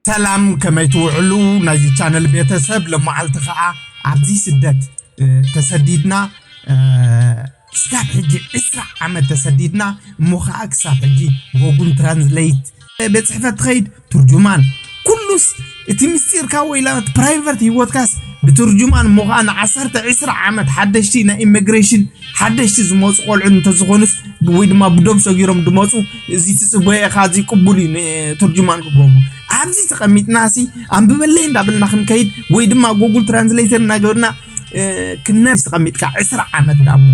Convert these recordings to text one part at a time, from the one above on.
ሰላም ከመይ ትውዕሉ ናይዚ ቻነል ቤተሰብ ለመዓልቲ ከዓ ኣብዚ ስደት ተሰዲድና ክሳብ ሕጂ ዕስራ ዓመት ተሰዲድና እሞ ከዓ ክሳብ ሕጂ ጎጉል ትራንስሌት ቤት ፅሕፈት ትኸይድ ትርጁማን ኩሉስ እቲ ምስጢርካ ወይላ እቲ ፕራይቨት ሂወትካስ ብትርጁማን እሞ ከዓ ንዓሰርተ ዕስራ ዓመት ሓደሽቲ ናይ ኢሚግሬሽን ሓደሽቲ ዝመፁ ቆልዑ እንተዝኾኑስ ወይ ድማ ብዶብ ሰጊሮም ዝመፁ እዚ ትፅበዮ ኢኻ እዚ ቅቡል እዩ ንትርጁማን ክገብሩ ኣብዚ ተቐሚጥና ሲ ኣንብበለይ እንዳበልና ክንከይድ ወይ ድማ ጉግል ትራንስሌተር እናገበርና ክነብስ ተቐሚጥካ ዕስራ ዓመት ዳሞ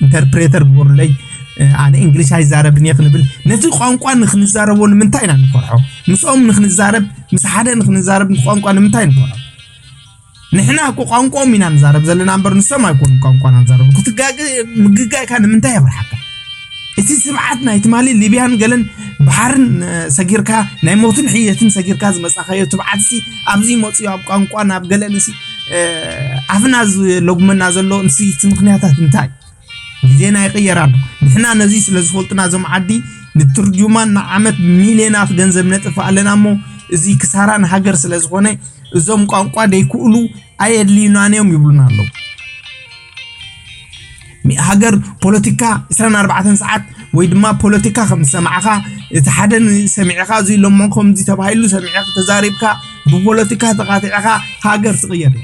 ኢንተርፕሬተር ግበሩለይ ኣነ እንግሊሽ ኣይዛረብን እየ ክንብል ነቲ ቋንቋ ንክንዛረቦ ንምንታይ ኢና ንፈርሖ ምስኦም ንክንዛረብ ምስ ሓደ ንክንዛረብ ቋንቋ ንምንታይ ንፈርሖ ንሕና እኮ ቋንቋኦም ኢና ንዛረብ ዘለና እምበር ንሶም ኣይኮኑ ቋንቋና ንዛረብ ክትጋግ ምግጋይካ ንምንታይ የብርሓካ እቲ ስብዓት ናይ ትማሊ ሊብያን ገለን ባሕርን ሰጊርካ ናይ ሞትን ሕየትን ሰጊርካ ዝመፃኻዮ ትብዓትሲ ኣብዚ መፅዮ ኣብ ቋንቋ ናብ ገለን ሲ ኣፍና ዝለጉመና ዘሎ ንስይቲ ምክንያታት እንታይ ግዜና ይቅየር ኣሎ ንሕና ነዚ ስለ ዝፈልጡና እዞም ዓዲ ንትርጁማን ንዓመት ሚልዮናት ገንዘብ ነጥፍ ኣለና እሞ እዚ ክሳራ ንሃገር ስለ ዝኾነ እዞም ቋንቋ ዘይክእሉ ኣየድልዩናን እዮም ይብሉና ኣለዉ ሃገር ፖለቲካ 24 ሰዓት ወይ ድማ ፖለቲካ ከም ዝሰማዕኻ እቲ ሓደ ሰሚዕኻ እዚ ኢሎሞ ከምዚ ተባሂሉ ሰሚዕኻ ተዛሪብካ ብፖለቲካ ተኻቲዕኻ ሃገር ትቕየር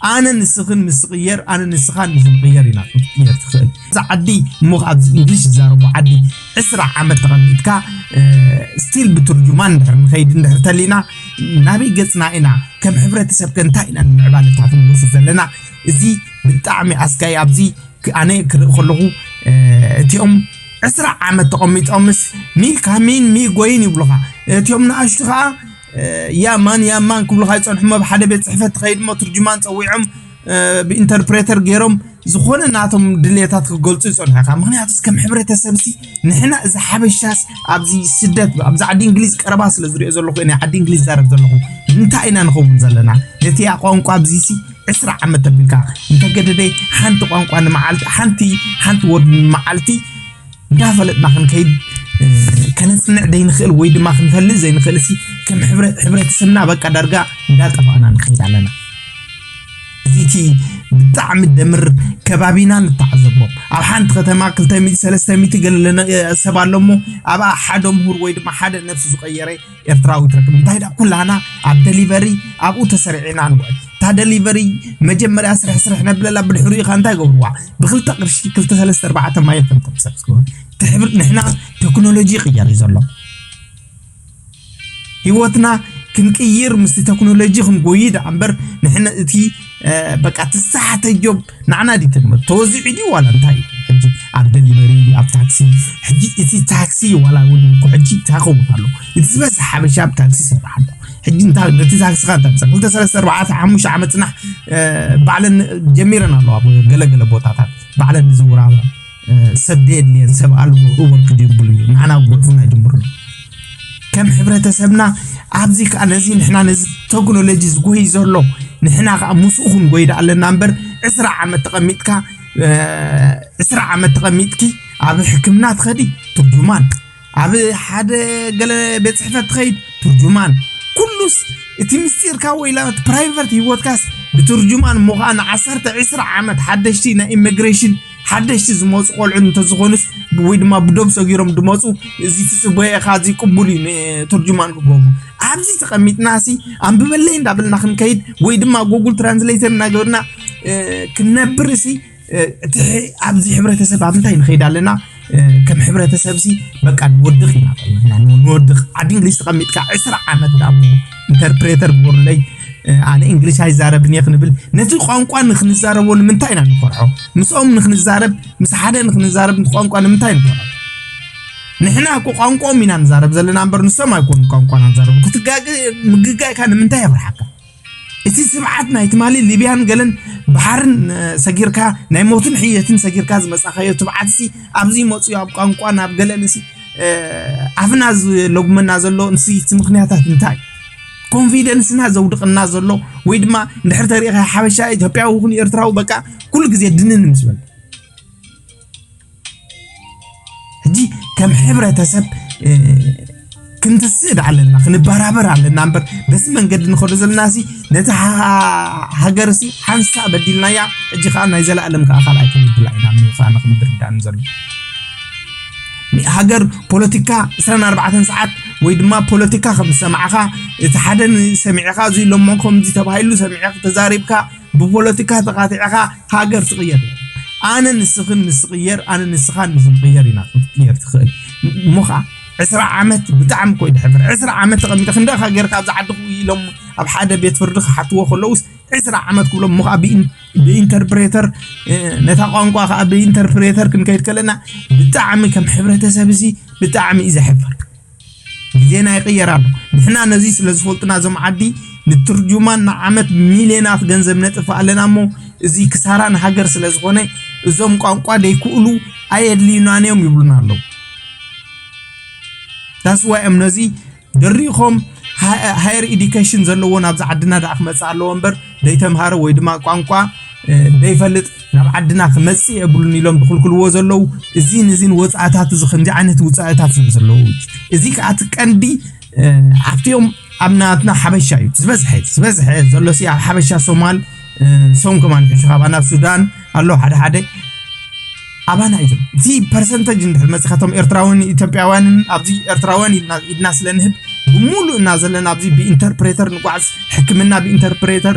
ኣነ ንስኽን ምስ ትቕየር ኣነ ንስኻን ምስ ንቕየር ኢና ክትቅየር ትኽእል እዛ ዓዲ እሞ ኣብዚ እንግሊሽ ዝዛረቡ ዓዲ ዕስራ ዓመት ተቐሚጥካ ስቲል ብትርጁማን እንድሕር ንኸይድ እንድሕር ተሊና ናበይ ገፅና ኢና ከም ሕብረተሰብ ከ እንታይ ኢና ንምዕባለታትን ንወስድ ዘለና እዚ ብጣዕሚ ኣስጋይ ኣብዚ ኣነ ክርኢ ከለኹ እቲኦም ዕስራ ዓመት ተቐሚጦምስ ሚልካ ሚን ሚ ጎይን ይብሉኻ እቲኦም ንኣሽቱ ከዓ ያማን ያማን ክብሉካ ይፀንሑ ኣብ ሓደ ቤት ፅሕፈት ትኸይድ እሞ ትርጅማን ፀዊዖም ብኢንተርፕሬተር ገይሮም ዝኾነ ናቶም ድሌታት ክገልፁ ይፀንሑ ኢኻ ምክንያቱ ከም ሕብረተሰብ ሲ ንሕና እዚ ሓበሻስ ኣብዚ ስደት ኣብዚ ዓዲ እንግሊዝ ቀረባ ስለ ዝሪኦ ዘለኹ ናይ ዓዲ እንግሊዝ ዛረብ ዘለኹ እንታይ ኢና ንኸውን ዘለና ነቲ ቋንቋ ኣብዚ ሲ ዕስራ ዓመት ተብልካ እንተገደደ ሓንቲ ቋንቋ ንመዓልቲ ሓንቲ ሓንቲ ወርድ ንመዓልቲ እንዳፈለጥና ክንከይድ ከነፅንዕ ዘይንኽእል ወይ ድማ ክንፈልጥ ዘይንኽእል ሲ ከም ሕብረተሰብና በቃ ዳርጋ እንዳጠፋእና ንኸይድ ኣለና እዚ እቲ ብጣዕሚ ደምር ከባቢና ንተዓዘቦ ኣብ ሓንቲ ከተማ 200 300 ገለለነ ሰብ ኣሎ እሞ ኣብኣ ሓደ ምሁር ወይ ድማ ሓደ ነብሱ ዝቀየረ ኤርትራዊት ርክብ እንታይ ዳ ኩላና ኣብ ደሊቨሪ ኣብኡ ተሰሪዕና ንውዕል እታ ደሊቨሪ መጀመርያ ስርሕ ስርሕ ነብለላ ብድሕሪኡ ካ እንታይ ገብርዋ ብክልተ ቅርሺ ክልተ ሰለስተ ኣርባዕተ ማየ ከም ተምሰብ ዝገብር ትሕብር ንሕና ቴክኖሎጂ ይቅየር እዩ ዘሎ ህይወትና ክንቅይር ምስ ቴክኖሎጂ ክንጎይ ዳኣ እምበር ንሕና እቲ በቃ ትሳሓተዮም ንዓና ድዩ ተግምር ተወዚዑ ድዩ ዋላ እንታይ ሕጂ ኣብ ደሊቨሪ ኣብ ታክሲ ሕጂ እቲ ታክሲ ዋላ እውን እኮ ሕጂ እንታይ ከውን ኣሎ እቲ ዝበዝሕ ሓበሻ ኣብ ታክሲ ይሰርሕ ኣሎ ሕጂ እንታይ ነቲ ታክስኻ እንታይ ምሰ ክልተ ሰለስተ ኣርባዕተ ሓሙሽተ ዓመት ፅናሕ ባዕለን ጀሚረን ኣለዋ ገለገለ ቦታታት ባዕለን ዝዝውራ ኣለዋ ሰብ ደየድልየን ሰብ ኣልቦ እወ ክጅብሉ እዩ ንዓና ጉዕፉና ይጅምሩ ኣሎ ከም ሕብረተሰብና ኣብዚ ከዓ ነዚ ንሕና ነዚ ቴክኖሎጂ ዝጎይ ዘሎ ንሕና ከዓ ምስኡ ክንጎይ ዳ ኣለና እምበር ዕስራ ዓመት ተቐሚጥካ ዕስራ ዓመት ተቐሚጥኪ ኣብ ሕክምና ትኸዲ ትርጉማ ኣብ ሓደ ገለ ቤት ጽሕፈት ትኸይድ ትርጁማን ኩሉስ እቲ ምስጢርካ ወይ ላበት ፕራይቨት ህይወትካስ ብትርጁማን እሞ ከዓ ንዓሰርተ ዕስራ ዓመት ሓደሽቲ ናይ ኢሚግሬሽን ሓደሽቲ ዝመፁ ቆልዑ እንተዝኾኑስ ወይ ድማ ብዶብ ሰጊሮም ድመፁ እዚ ትፅበዮ ኢኻ እዚ ቅቡል እዩ ንትርጁማን ክገብሩ ኣብዚ ተቐሚጥና ሲ ኣንብበለይ እንዳበልና ክንከይድ ወይ ድማ ጉግል ትራንስሌተር እናገበርና ክንነብር ሲ እቲ ኣብዚ ሕብረተሰብ ኣብ እንታይ ንኸይድ ኣለና ከም ሕብረተሰብ ሲ በቃ ንወድቕ ኢና ከለና ንወድቕ ዓዲ እንግሊዝ ተቐሚጥካ ዕስራ ዓመት ዳሞ ኢንተርፕሬተር ግበሩለይ ኣነ እንግሊሽ ኣይዛረብን እየ ክንብል ነዚ ቋንቋ ንክንዛረቦ ንምንታይ ኢና ንፈርሖ ምስኦም ንክንዛረብ ምስ ሓደ ንክንዛረብ ቋንቋ ንምንታይ ንፈርሖ ንሕና እኮ ቋንቋኦም ኢና ንዛረብ ዘለና እምበር ንሶም ኣይኮኑ ቋንቋና ንዛረብ ክትጋገ ምግጋይካ ንምንታይ የፍርሓካ እቲ ስርዓት ናይ ትማሊ ሊብያን ገለን ባሕርን ሰጊርካ ናይ ሞትን ሕየትን ሰጊርካ ዝመጻኻዮ ትብዓትሲ ኣብዚ መጽዩ ኣብ ቋንቋን ኣብ ገለንሲ ኣፍና ዝለጉመና ዘሎ ንሲ እቲ ምክንያታት እንታይ ኮንፊደንስና ዘውድቕና ዘሎ ወይ ድማ እንድሕር ተሪኢኻ ሓበሻ ኢትዮጵያዊ ይኹን ኤርትራዊ በቃ ኩሉ ግዜ ድንን ምስ በል ሕጂ ከም ሕብረተሰብ ክንትስእድ ኣለና ክንበራበር ኣለና እምበር በዚ መንገዲ ንኸዶ ዘለና ሲ ነቲ ሃገር ሲ ሓንሳ በዲልናያ ሕጂ ከዓ ናይ ዘለኣለም ከዓ ካልኣይ ክንብድላ ኢና ምዃኑ ክንርዳእን ዘሎ ሃገር ፖለቲካ 24 ሰዓት ወይ ድማ ፖለቲካ ከም ዝሰማዕኻ እቲ ሓደ ሰሚዕኻ እዚ ኢሎሞ ከምዚ ተባሂሉ ሰሚዕኻ ተዛሪብካ ብፖለቲካ ተካቲዕኻ ሃገር ትቅየር የለን ኣነ ንስኽን ምስ ትቅየር ኣነ ንስኻን ምስ ንቅየር ኢና ክትቅየር ትኽእል እሞ ኸዓ ዕስራ ዓመት ብጣዕሚ እኮ እዩ ድሕብር ዕስራ ዓመት ተቐሚጠ ክንደይ ኢኻ ጌርካ ኣብዚ ዓዲ ኢሎም ኣብ ሓደ ቤት ፍርዲ ክሓትዎ ከለውስ ዕስራ ዓመት ክብሎም እሞ ከዓ ብኢንተርፕሬተር ነታ ቋንቋ ከዓ ብኢንተርፕሬተር ክንከይድ ከለና ብጣዕሚ ከም ሕብረተሰብ እዚ ብጣዕሚ እዩ ዘሕፍር ግዜና ይቕየር ኣሎ። ንሕና ነዚ ስለ ዝፈልጡና እዞም ዓዲ ንትርጁማን ንዓመት ሚልዮናት ገንዘብ ነጥፍእ ኣለና እሞ እዚ ክሳራ ንሃገር ስለ ዝኾነ እዞም ቋንቋ ደይክእሉ ኣየድልዩናን እዮም ይብሉና ኣለዉ። ዳስዋ እዮም ነዚ ድሪኾም ሃየር ኢዲኬሽን ዘለዎ ናብዚ ዓድና ደኣ ክመፅእ ኣለዎ እምበር ደይተምሃረ ወይ ድማ ቋንቋ ደይፈልጥ ናብ ዓድና ክመጽእ የብሉን ኢሎም ዝኽልክልዎ ዘለዉ እዚን እዚን ወፃእታት እዚ ከምዚ ዓይነት ውፃእታት እዮም ዘለዉ እዚ ከዓ እቲ ቀንዲ ኣብቲኦም ኣብ ናትና ሓበሻ እዩ ዝበዝሐ ዝበዝሐ ዘሎ ሲ ኣብ ሓበሻ ሶማል ሶም ከማን ሕሹ ካባና ኣብ ሱዳን ኣሎ ሓደ ሓደ ኣባና እዩ ዘሎ እቲ ፐርሰንተጅ እንድሕር መፅእ ካቶም ኤርትራውን ኢትዮጵያውያንን ኣብዚ ኤርትራውያን ኢድና ስለ ንህብ ብምሉእ እና ዘለና ኣብዚ ብኢንተርፕሬተር ንጓዓዝ ሕክምና ብኢንተርፕሬተር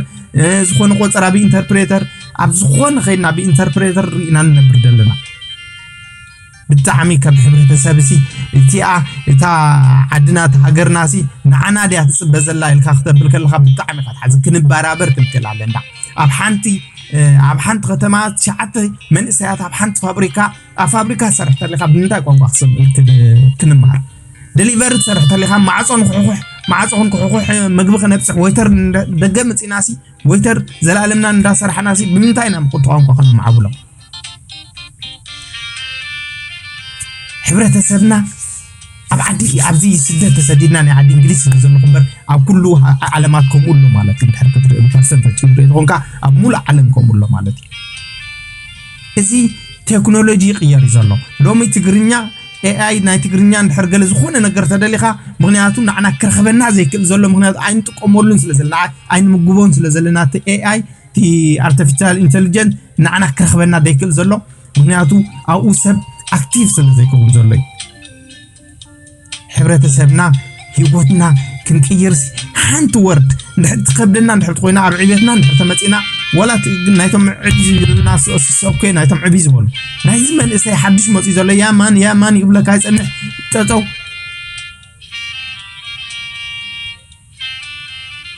ዝኾነ ቆፀራ ብኢንተርፕሬተር ኣብ ዝኾነ ከይድና ብኢንተርፕሬተር ርኢና ንነብር ዘለና ብጣዕሚ ከም ሕብረተሰብ ሲ እቲኣ እታ ዓድና እቲ ሃገርና ሲ ንዓና ድያ ትፅበ ዘላ ኢልካ ክተብል ከለካ ብጣዕሚ ኢካ ትሓዝን ክንበራበር ክንክእል ኣለና ኣብ ሓንቲ ኣብ ሓንቲ ከተማ ትሽዓተ መንእሰያት ኣብ ሓንቲ ፋብሪካ ኣብ ፋብሪካ ትሰርሕ ተለካ ብምንታይ ቋንቋ ክንመሃር ደሊቨሪ ትሰርሕ ተለካ ማዕፆ ንክሕኩሕ ማዕፆ ክንክሕኩሕ ምግቢ ክነብፅሕ ወይተር ደገ ምፅናሲ ወይተር ዘላኣለምና እንዳሰራሕናሲ ብምንታይ ኢና ብቁጡ ቋንቋ ከነማዕብሎ? ሕብረተሰብና ኣብ ዓዲ ኣብዚ ስደት ተሰዲድና ናይ ዓዲ እንግሊዝ ስለ ዘለኹ እምበር ኣብ ኩሉ ዓለማት ከምኡ ኣሎ ማለት እዩ ድሕር ክትርኢ ፐርሰንተጅ ክትርኢ ተኾንካ ኣብ ሙሉእ ዓለም ከምኡ ኣሎ ማለት እዩ እዚ ቴክኖሎጂ ይቅየር እዩ ዘሎ ሎሚ ትግርኛ ኤኣይ ናይ ትግርኛ እንድሕር ገለ ዝኾነ ነገር ተደሊኻ ምክንያቱ ንዓና ክረኽበና ዘይክእል ዘሎ ምክንያቱ ኣይንጥቀመሉን ስለ ዘለና ኣይንምግቦን ስለ ዘለና እቲ ኤኣይ እቲ ኣርቲፊሻል ኢንቴሊጀንት ንዓና ክረኽበና ዘይክእል ዘሎ ምክንያቱ ኣብኡ ሰብ ኣክቲቭ ስለ ዘይከውን ዘሎ እዩ ሕብረተሰብና ሂወትና ክንቅይርሲ ሓንቲ ወርድ እንድሕር ትከብደና እንድሕር ኮይና ኣብ ዕቤትና እንድሕር ተመፂና ዋላ ናይቶም ዕብ ዝብሉና ሰብኮ ናይቶም ዕብ ዝበሉ ናይዚ መንእሰይ ሓድሽ መፅኡ ዘሎ ያማን ያማን ይብለካ ይፀንሕ ጠጠው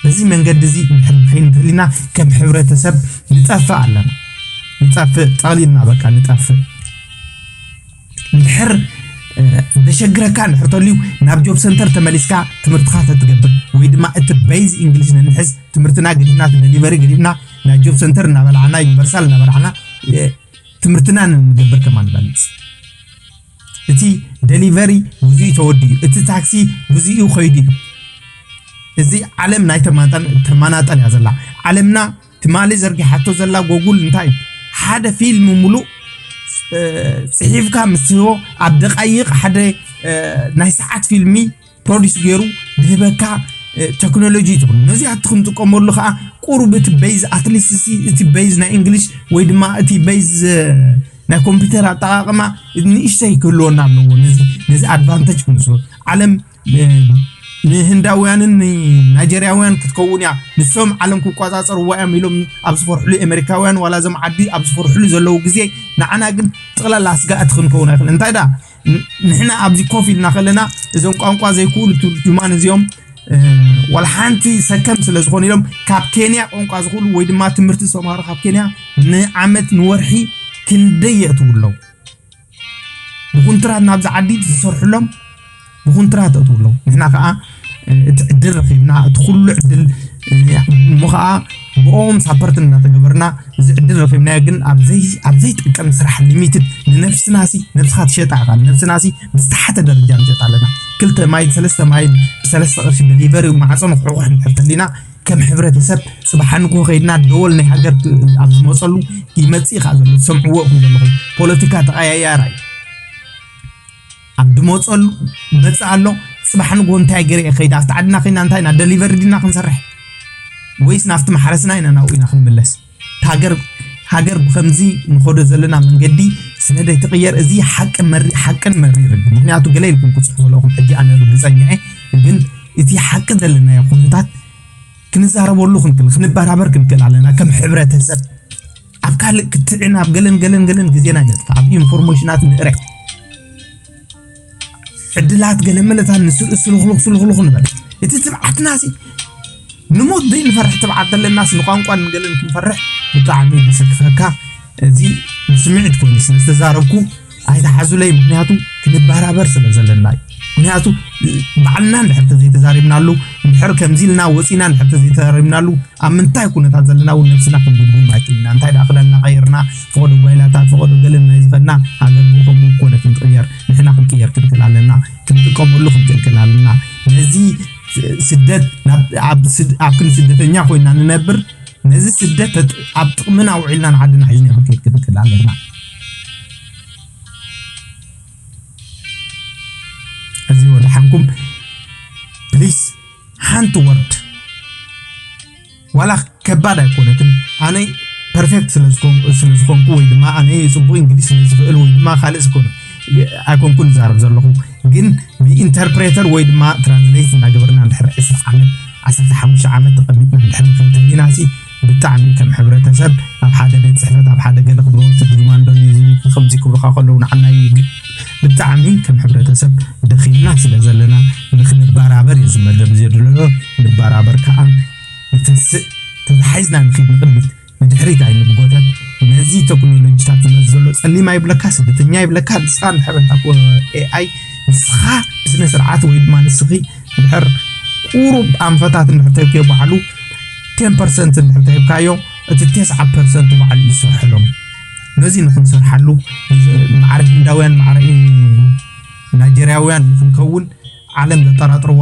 በዚ መንገዲ እዚ እንድሕር ንኸይድ እንተሊና ከም ሕብረተሰብ ንጠፍእ ኣለና ንጠፍእ ጠቕሊልና በቃ ንጠፍእ እንድሕር ዘሸግረካ እንድሕር ተልዩ ናብ ጆብ ሰንተር ተመሊስካ ትምህርትኻ ተትገብር ወይ ድማ እቲ በይዝ እንግሊሽ ነንሕዝ ትምህርትና ገዲፍና ደሊቨሪ ገዲፍና ናይ ጆብ ሰንተር እናበላዕና ዩኒቨርሳል እናበላዕና ትምህርትና ንገብር ከማ ንበልፅ እቲ ደሊቨሪ ግዚኡ ተወዲኡ እዩ። እቲ ታክሲ ግዚኡ ከይዱ እዩ። እዚ ዓለም ናይ ተማናጠል እያ ዘላ ዓለምና ትማሊ ዘርጊሓቶ ዘላ ጎጉል እንታይ እዩ ሓደ ፊልም ሙሉእ ፅሒፍካ ምስ ትህቦ ኣብ ደቃይቕ ሓደ ናይ ሰዓት ፊልሚ ፕሮዲስ ገይሩ ዝህበካ ቴክኖሎጂ እዩ ትብሉ ነዚ ኣቲ ክንጥቀመሉ ከዓ ቁሩብ እቲ በይዝ ኣትሊስት እቲ በይዝ ናይ እንግሊሽ ወይ ድማ እቲ በይዝ ናይ ኮምፒውተር ኣጠቃቅማ ንእሽተይ ክህልወና ኣለዎ ነዚ ኣድቫንተጅ ክንስሎ ዓለም ንህንዳውያንን ንናይጀርያውያን ክትከውን እያ ንሶም ዓለም ክቆፃፀርዋ እዮም ኢሎም ኣብ ዝፈርሕሉ ኣሜሪካውያን ዋላ እዞም ዓዲ ኣብ ዝፈርሕሉ ዘለዉ ግዜ ንዓና ግን ጥቕላላ ስጋእቲ ክንከውን ኣይክእል እንታይ ዳ ንሕና ኣብዚ ኮፍ ኢልና ከለና እዞም ቋንቋ ዘይክእሉ ትርጅማን እዚኦም ዋላ ሓንቲ ሰከም ስለ ዝኾኑ ኢሎም ካብ ኬንያ ቋንቋ ዝኽእሉ ወይ ድማ ትምህርቲ ዝተምሃሩ ካብ ኬንያ ንዓመት ንወርሒ ክንደይ የእትዉ ኣለዉ ብኩንትራት ናብዚ ዓዲ ዝሰርሕሎም ብኩንትራት የእትዉ ኣለዉ ንሕና ከዓ እቲ ዕድል ረኺብና እቲ ኩሉ ዕድል እሞ ከዓ ብኦም ሳፐርት እናተገበርና እዚ ዕድል ረኺብናዮ ግን ኣብ ዘይጠቀም ስራሕ ሊሚትድ ንነብስና ሲ ነብስኻ ትሸጣ ኢኻ ንነብስና ሲ ብዝተሓተ ደረጃ ንሸጣ ኣለና ክልተ ማይን ሰለስተ ማይን ብሰለስተ ቅርሺ ደሊቨሪ ማዕፆ ንክሕቑሕ እንድሕር ተሊና ከም ሕብረተሰብ ፅባሕ ንግሆ ከይድና ደወል ናይ ሃገር ኣብ ዝመፀሉ ይመፅእ ኢኻ ዘሎ ዝሰምዕዎ ኢኹም ዘለኹም ፖለቲካ ተቐያያራ እዩ ኣብ ድመፀሉ መፅእ ኣሎ ፅባሕ ንግሆ እንታይ ገይረ እየ ከይደ ኣብቲ ዓድና ኮይና እንታይ ኢና ደሊቨሪ ድና ክንሰርሕ ወይስ ናብቲ ማሕረስና ኢና ናብኡ ኢና ክንምለስ ሃገር ሃገር ብከምዚ ንኸዶ ዘለና መንገዲ ስለ ዘይትቕየር እዚ ሓቅን መሪ ሓቅን መሪርን ምክንያቱ ገለ ኢልኩም ክፅሑ ዘለኹም ሕጂ ኣነ ርግፀኛ እየ ግን እቲ ሓቂ ዘለናዮ ኩነታት ክንዛረበሉ ክንክል ክንበራበር ክንክል ኣለና ከም ሕብረተሰብ ኣብ ካልእ ክትዕን ኣብ ገለን ገለን ገለን ግዜና ነጥፋእ ኣብ ኢንፎርሜሽናት ንእረይ ዕድላት ገለመለታት ንስርኢ ስልኽልኽ ስልኽልኽ ንበል እቲ ትብዓትና ሲ ንሞት ዘይንፈርሕ ትብዓት ዘለናስ ንቋንቋን ንገለን ክንፈርሕ ብጣዕሚ ምስክኸካ እዚ ንስምዒት ኮይኑ ስለ ዝተዛረብኩ ኣይትሓዙለይ ምክንያቱ ክንበራበር ስለ ዘለና እዩ ምክንያቱ ባዕልና እንድሕር ተዘይተዛሪብናሉ እንድሕር ከምዚ ኢልና ወፂና እንድሕር ተዘይተዛሪብናሉ ኣብ ምንታይ ኩነታት ዘለና እውን ነብስና ክንግምግም ኣይክእልና እንታይ ደኣ ክዳንና ቀይርና ፈቐዶ ጓይላታት ፈቐዶ ገለ ናይ ዝኸድና ሃገር ከምኡ ኮነ ክንቅየር ንሕና ክንቅየር ክንክእል ኣለና ክንጥቀመሉ ክንክልክል ኣለና ነዚ ስደት ኣብ ክንዲ ስደተኛ ኮይና ንነብር ነዚ ስደት ኣብ ጥቅምና ኣውዒልና ንዓድና ሒዝና ክንከይድ ክንክል ኣለና። እዚ ወድሓንኩም ፕሊስ ሓንቲ ወርድ ዋላ ከባድ ኣይኮነትን ኣነ ፐርፌክት ስለዝኾንኩ ወይ ድማ ኣነ ፅቡቅ እንግሊዝ ስለዝኽእል ወይ ድማ ካልእ ዝኾነ ኣይኮንኩን ዛረብ ዘለኹ ግን ብኢንተርፕሬተር ወይ ድማ ትራንስሌት እናገበርና ድሕሪ ዕስራ ዓመት ዓሰርተ ሓሙሽተ ዓመት ተቐሚጥና እንድሕር ከም ተሊናሲ ብጣዕሚ ከም ሕብረተሰብ ኣብ ሓደ ቤት ፅሕፈት ኣብ ሓደ ገለ ክብረወርቲ ድልማንዶ ኒዚኒክ ከምዚ ክብሉኻ ከለዉ ንዓና ይግ ብጣዕሚ ከም ሕብረተሰብ ደኺምና ስለ ዘለና ንክንበራበር እዩ ዝመደብ ዘድለሎ ንበራበር ከዓ ንተስእ ተታሒዝና ንኽድ ንቕድሚት ንድሕሪት ኣይንጎተት ነዚ ተክኖሎጂታት ዝመፅ ዘሎ ፀሊማ ይብለካ ስደተኛ ይብለካ ንስኻ ንድሕር እንታ ኤኣይ ንስኻ ብስነ ስርዓት ወይ ድማ ንስኺ እንድሕር ቁሩብ ኣንፈታት እንድሕር ተብዮ ባዕሉ ቴን ፐርሰንት እንድሕር ተሂብካዮ እቲ ቴስዓ ፐርሰንት ባዕሉ እዩ ዝሰርሐሎም ነዚ ንክንሰርሓሉ ማዕረ ህንዳውያን ማዕረ ናይጀርያውያን ንክንከውን ዓለም ዘጠራጥርዋ